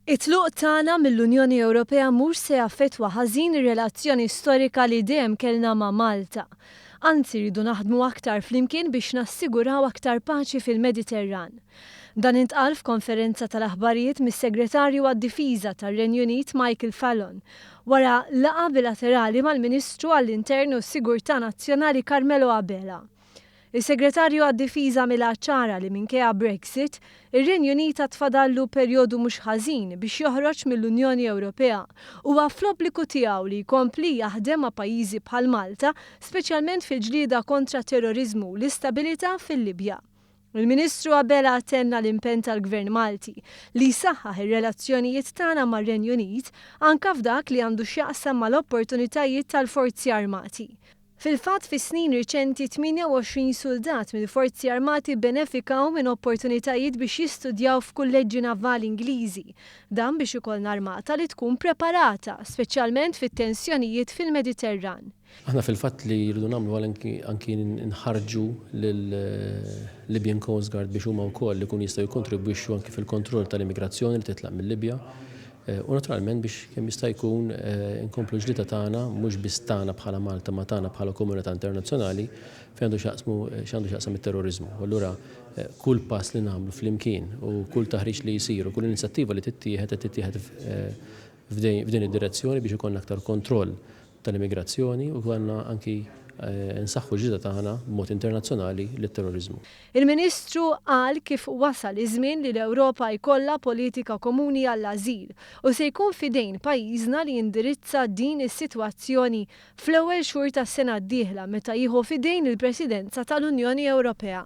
It-tluq tagħna mill-Unjoni Ewropea mhux se jaffettwa ħażin ir-relazzjoni storika li dejjem kellna ma' Malta. Anzi, rridu naħdmu aktar flimkien biex nassiguraw aktar paċi fil-Mediterran. Dan intqal f'konferenza tal-aħbarijiet mis-Segretarju għad-Difiża tar-Renju Unit Michael Fallon wara laqgħa bilaterali mal-Ministru għall-Intern u s-Sigurtà Nazzjonali Carmelo Abela. Is-Segretarju għad-Difiża mela ċara li minkejja Brexit, ir-Renju Unit għad fadallu perjodu mhux ħażin biex joħroġ mill-Unjoni Ewropea. Huwa fl-obbligu tiegħu li jkompli jaħdem ma' pajjiżi bħal Malta, speċjalment fil-ġlieda kontra t-terroriżmu u l-istabilità fil-Libja. Il-Ministru Abela tenna l-impenn tal-Gvern Malti li jsaħħaħ ir-relazzjonijiet tagħna mar-Renju Unit anke f'dak li għandu x'jaqsam mal-opportunitajiet tal-Forzi Armati. Fil-fatt, fis-snin riċenti 28 suldat mill-Forzi Armati bbenefikaw minn opportunitajiet biex jistudjaw f'kulleġġi navali Ingliżi, dan biex ikollna armata li tkun preparata, speċjalment fit-tensjonijiet fil-Mediterran. Aħna fil-fatt li rridu nagħmlu anki nħarrġu lill-Libyan Coast Guard biex huma wkoll ikunu jistgħu jikkontribwixxu anki fil-kontroll tal-immigrazzjoni li titlaq mill-Libja. Eh, u naturalment biex kemm jista' jkun eh, inkomplu ġlita tagħna mhux biss tagħna bħala Malta ma tagħna bħala komunità internazzjonali fejn għandu xaqsmu eh, x'għandu xaqsam it-terrorizmu. Allura kull pass li nagħmlu flimkien u kull taħriġ li jsir u kull inizjattiva li tittieħed qed tittieħed f'din id-direzzjoni biex ikollna aktar kontroll tal-immigrazzjoni u għandna anki nsaħħu l-ġlieda tagħna b'mod internazzjonali lit-terroriżmu. Il-Ministru qal kif wasal iż-żmien li l-Ewropa jkollha politika komuni għall-ażil u se jkun f'idejn pajjiżna li jindirizza din is-sitwazzjoni fl-ewwel xhur tas-sena d-dieħla meta jieħu f'idejn il-Presidenza tal-Unjoni Ewropea.